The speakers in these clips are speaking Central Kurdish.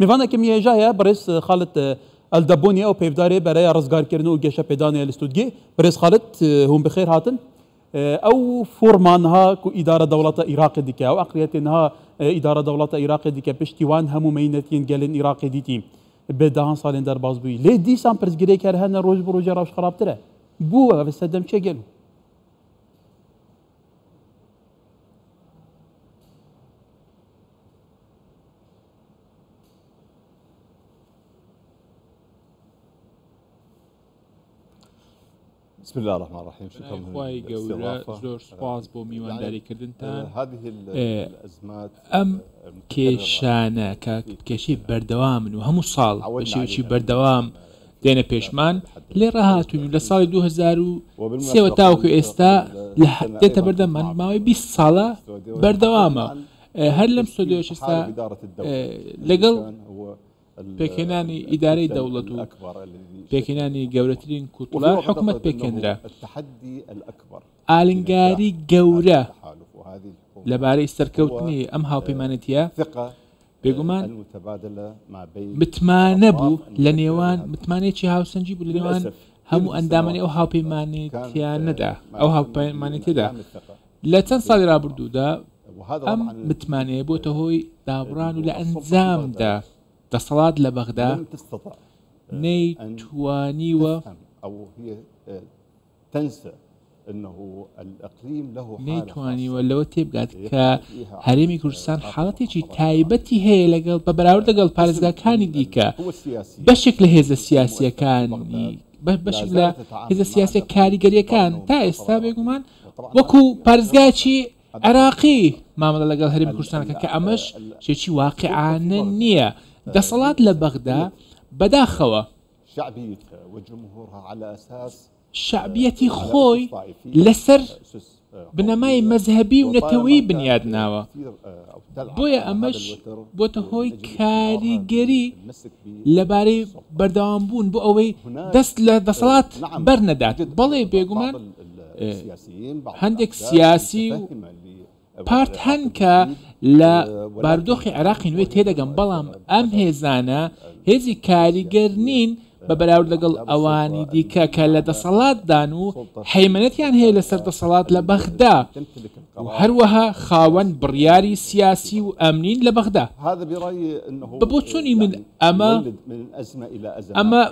میوانەکم یێژایە بەڕێز خالد ئەلدەبۆنی ئەو پەیڤدارێ بەرەێ ڕزگارکردن و گێشەپێدانێ لە ستوتگێ. بەڕێز خالد هوون بخێر هاتن. ئەو فۆڕما نها کو ئیدارە دەوڵەتە ئیراقێ دیکە، ئەو عەقڵیەتێ نها ئیدارە دەوڵەتە ئیراقێ دیکە پشتیوان هەموو مەینەتیێن گەلێن ئیراقێ دیتی بێ دەهان ساڵێن دەرباز بوی. لێ دیسان پرسگرێ کەر هەنە ڕۆژ بۆ ڕۆژێ ڕەوش خڕاپترە بووە ڤە سەردەم چێ گەل و. بسم الله الرحمن الرحیم خوای گەورە زۆر سپاس بۆ میوانداریکردنتان ئەم کێشانە کە کێشی بەردەوامن و هەموو ساڵ شێوکی بەردەوام دێنە پێشمان لێ ڕاهاتون لە ساڵی 2023 تاوکو ئێستا لە دێتە بەردەمان ماوەی 20 ساڵە بەردەوامە هەر لەم ستۆدیۆیەش ئێستا لەگەڵ پێکهێنانی ئیدارەی دەوڵەت و پێکهێنانی گەورەترین کوتڵە حکومت پێکێنرا ئالنگاری گەورە لەبارەی سەرکەوتنی ئەم هاوپەیمانەتە بێگومان متمانە بوو لە نێوان متمانێکی هاوسەنجی بوو لە نێوان هەموو ئەندامانی ئەو هاوپەیمانێتیانەدا ئەو هاوپەیمانێتدا لە چەند ساڵی رابردوودا ئەم متمانەیە بۆتە هۆی دابڕان و لە ئەنجامدا دەسەڵات لە بەغدا نەیتوانیوە نەیتوانیوە لەوە تێبگات کە هەرێمی کوردستان حاڵەتێکی تایبەتی هەیە لەگەڵ بە بەراورد دەگەڵ پارێزگاکانی دیکە بەشێک لە هێزە سیاسیەکانی بەشێک لە هێزە سیاسە کاریگەریەکان تا ئێستا بێگومان وەکو پارێزگایەکی عێراقی مامەڵە لەگەڵ هەرێمی کوردستانەکە کە ئەمەش شتێکی واقیعانە نییە دەسەڵات لە بەغدا بەداخەوە شعبیەتی خۆی لەسەر بنەمای مەزهبی و نەتەوەی بنیاد ناوە بۆیە ئەمەش بۆتە هۆی کاریگەری لەبارەی بەردەوام بوون بۆ ئەوەی دەست لە دەسەڵات بەرنەدات بەڵێ بێگومان هەندێک سیاسی و پارت هەن کە لە بارودۆخی عێراقی نوێ تێدەگەم بەڵام ئەم هێزانە هێزی کاریگەر نین بە بەراورد لەگەڵ ئەوانی دیکە کە لە دەسەڵاتدان و حەیمەتیان هەیە لەسەر دەسەڵات لە بەغدا هەروەها خاوەن بڕیاری سیاسی و ئەمنین لە بەغدا بە بۆ چۆنی من ئەمە ئەمە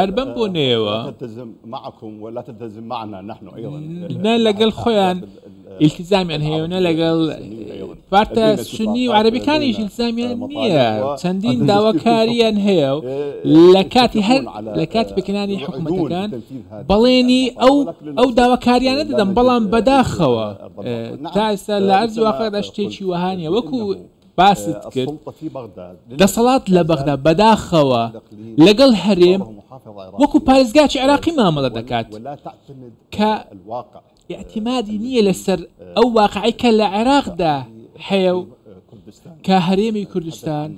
هەر بەم بۆنەیەوە نە لەگەڵ خۆیان ئیلتیزامیان هەیە و نە لەگەڵ پارتە سنی و عەرەبیەکانیش ئیلزامیان نییە چەندین داواکاریان هەیە و لە کاتی هەر لە کاتی پێکەانی حکوومەتەکان بەڵێنی ئەو ئەو داواکاریانە دەدەم بەڵام بەداخەوە تا ئێستا لە ئەرزی واقعدا شتێکی وەهانە وەکو باست کرد دەسەڵات لە بەغدا بەداخەوە لەگەڵ هەرێم وەکو پارێزگاچی عێراقی مامەڵە دەکات کە ئەتیمادی نییە لەسەر ئەو واقعی کە لە عێراقدا هەیە و کە هەرێمی کوردستان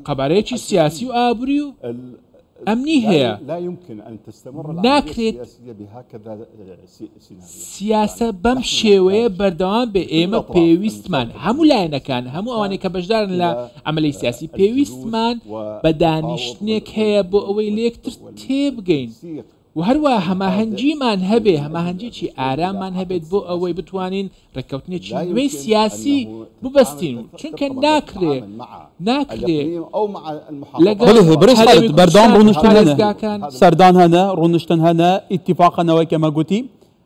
قەبارەیەکی سیاسی و ئابوری و ئەمنی هەیە ناکرێت سیاسە بەم شێوەیە بەردەوام بێ ئێمە پێویستمان هەموو لایەنەکان هەموو ئەوانەی کە بەشدارن لە ئەمەلی سیاسی پێویستمان بە دانیشتنێک هەیە بۆ ئەوەی لەکتر تێبگەین و هەروەها هەماهەنگیمان هەبێ، هەماهەنگیەکی ئارامان هەبێت بۆ ئەوەی بتوانین ڕێککەوتنێکی نوێی سیاسی ببەستین و چونکە ناکرێ ناکرێ لەگەڵ هەرێمی کوردستان و پارێزگاکان.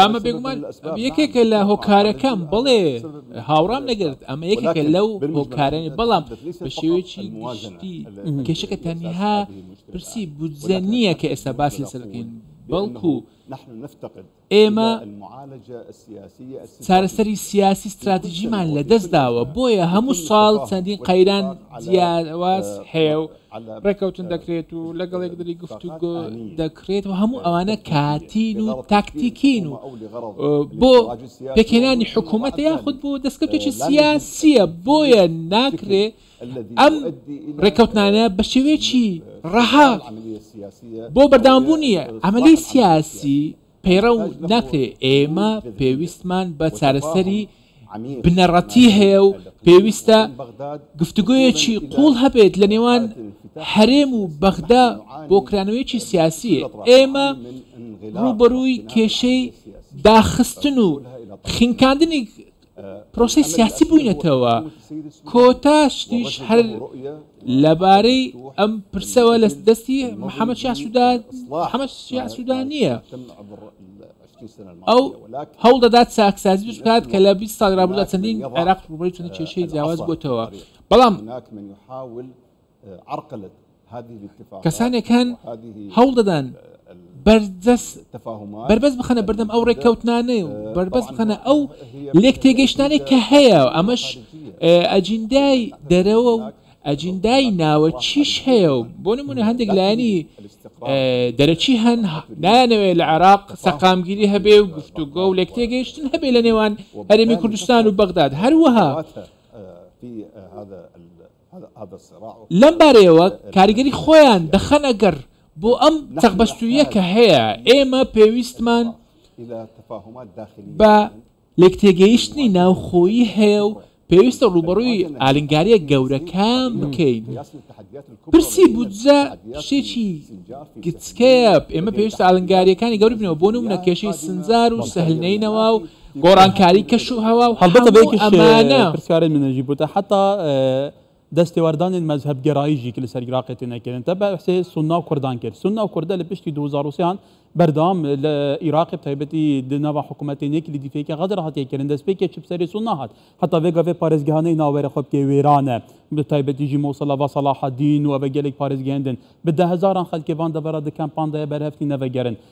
ئەمە بێگومان یەکێکە لە هۆکارەکەم بڵێ هاوڕام نەگرت ئەمە یەکێکە لەو هۆکارانی بەڵام بە شێوەیەکی گشتی کێشەکە تەنها پرسی بودجە نییە کە ئێستا باس لەسەرکەین بەڵکو ئێمە چارەسەری سیاسی ستراتیجیمان لەدەست داوە، بۆیە هەموو ساڵ چەندین قەیران جیاواز هەیە و ڕێککەوتن دەکرێت و لەگەڵ یەکدری گفتوگۆ دەکرێت و هەموو ئەوانە کاتین و تاکتیکین و بۆ پێکهێنانی حکوومەتە یاخود بۆ دەستکەوتێکی سیاسییە بۆیە ناکرێت ئەم ڕێککەوتنانە بە شێوەیەکی ڕەها بۆ بەردەوامبوونی ئەمەلی سیاسی پەیڕە و ناکرێ ئێمە پێویستمان بە چارەسەری بنەڕەتی هەیە و پێویستە گفتوگویەکی قوڵ هەبێت لە نێوان هەرێم و بەغدا بۆ کرانەوەیەکی سیاسی ئێمە ڕوبەرووی کێشەی داخستن و خینکاندنی پرۆسەی سیاسی بووینەتەوە کۆتا شتیش هەر لەبارەی ئەم پرسەوە لە دەستی محەممەد شاسوودان محەممەد شاسوودان نییە ئەو هەوڵ دەدات ساکسازی بکات کە لە 20 سال رابوودا چەندین عێراق ڕوبەری چەند کێشەی جیاواز بۆتەوە بەڵام کەسانێک هەن هەوڵ دەدان بەربەست بخەنە بەردەم ئەو ڕێککەوتنانەی و بەربەست بخەنە ئەو لێک تێگەشتانێک کە هەیە و ئەمەش ئەجیندای دەرەوە و ئەجیندای ناوە چیش هەیە و بۆ نمونە هەندێک لایەنی دەرەچی هەن نایانەوێ لە عێراق سەقامگیری هەبێ و گفتوگۆ و لێک تێگەیشتن هەبێ لە نێوان هەرێمی کوردستان و بەغداد هەروەها لەم بارەیەوە کاریگەری خۆیان دەخەنە گەڕ بۆ ئەم چەقبەستووییە کە هەیە، ئێمە پێویستمان بە لێکتێگەیشتنی ناوخۆیی هەیە و پێویستە ڕووبەڕووی ئالنگارییە گەورەکان بکەین، پرسی بودجە شتێکی گچکەیە، ئێمە پێویستە ئالنگارییەکانی گەورە بکەینەوە، بۆ نموونە کێشەی سنجار و سهل نەینەوا و، گۆڕانکاری کەش و هەوا و هەڵبەتە بە هەموو یەکیش ئەمانە. پرسیارەی منە ژی بوتە حەتا دەس تێواردانێن مەزهەب گەرایی ژی ک لە سەر ئیراقێ تێ نەکێرن تە بە حسێ سوننا و کوردان کێر سوننا و کوردە لە پشتی دۊ هەزار و سێ هان بەردەوام لە ئیراقێ بە تایبەتی د ناڤا حکوومەتێ نێ کلیدی فێکێ غەدر هاتیە کێرن دەس پێکێ چ بسەرێ سوننا هات حەتا ڤێ گاڤێ پارێزگەهانێ ناوەێ خۆ بکێ وێرانە بە تایبەتی ژی مۆسڵە ڤە سەڵاحەدین و ڤە گەلێک پارێزگەێندن بە دە هەزاران خەلکێ ڤان دەڤەرا د کەمپان دایە بەرهەفتی نەڤەگەرن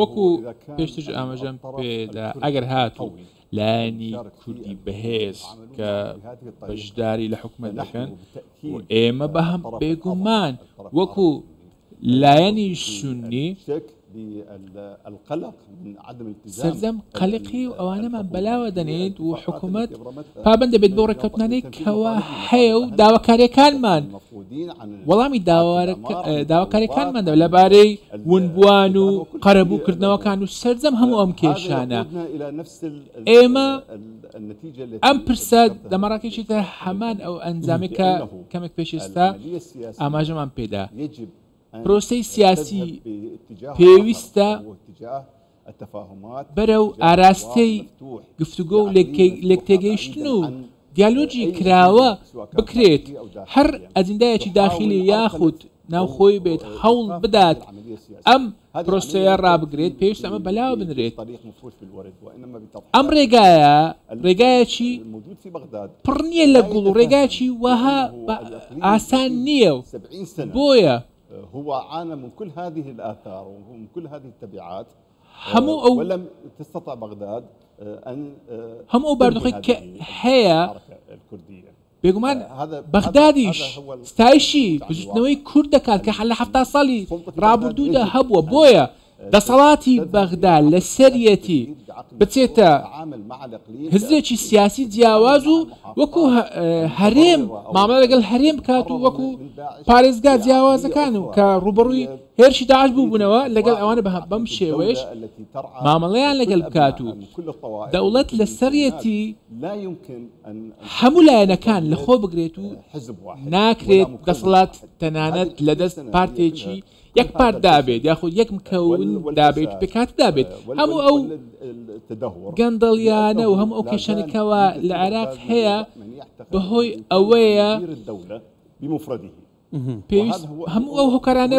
وەکو پێشترش ئاماژەم پێدا ئەگەر هاتوو لایەنی کوردی بەهێز کە بەشداری لە حکومەت دەکەن ئێمە بە هەم بێگومان وەکو لایەنی سوننی سەرجەم قەلقی و ئەوانەمان بەلاوە دەنێیت و حکوومەت پابند دەبێت بۆ ڕێککەوتنانەی کەوا هەیە و داواکاریەکانمان وەڵامی داواکاریەکانمان دەب لەبارەی ونبووان و قەرەبووکردنەوەکان و سەرجەم هەموو ئەم کێشانە ئێمە ئەم پرسە لە مەراکشی تر هەمان ئەو ئەنجامێک کە کەمێک پێشێستا ئاماژەمان پێدا پرۆسی سیاسی پێویستە بەرە و ئاراستەی گفتوگۆ و لێک تێگەیشتن و دیالۆجی کراوە بکرێت هەر ئەجندایەکی داخلی یاخود ناوخۆی بێت هەوڵ بدات ئەم پرۆسەیە ڕابگرێت پێویست ئەمە بەلاوە بنرێت ئەم ڕێگایە ڕێگایەکی پڕ نییە لە گوڵ و ڕێگاچی وەها ئاسان نییە و بۆیە هو عانە من كل هذه الآثار ومن كل هذه التبعات هەموو ئەو لەم تستطع بەغداد هەموو ئەو باردوخی کە هەیە کوردیە بێگومان بەغدادیش ستایشی بزوتنەوەی کورد دەکات کە لە حەفتا ساڵی ڕابوردوودا هەبووە بۆیە دەسەڵاتی بەغدا لەسەریەتی بچێتە هزرێکی سیاسی جیاواز و وەکو هەرێم مامە لەگەڵ هەرێم بکات و وەکو پارێزگا جیاوازەکان و کە ڕوبڕووی هێرشی داعش بووبوونەوە لەگەڵ ئەوانە بە بەم شێوەیەش مامەڵەیان لەگەل بکات و دەوڵەت لەسەریەتی هەموو لایەنەکان لە خۆ بگرێت و ناکرێت دەسەڵات تەنانەت لە دەست پارتێکی یەک پارت دابێت یاخود یەک مکەون دابێت پێکات دابێت هەموو ئەو گەندەڵیانە و هەم ئەو کێشەنەکەەوە لە عێراق هەیە بەهۆی ئەوەیە بمفردی پێویست هەموو ئەو هۆکارانە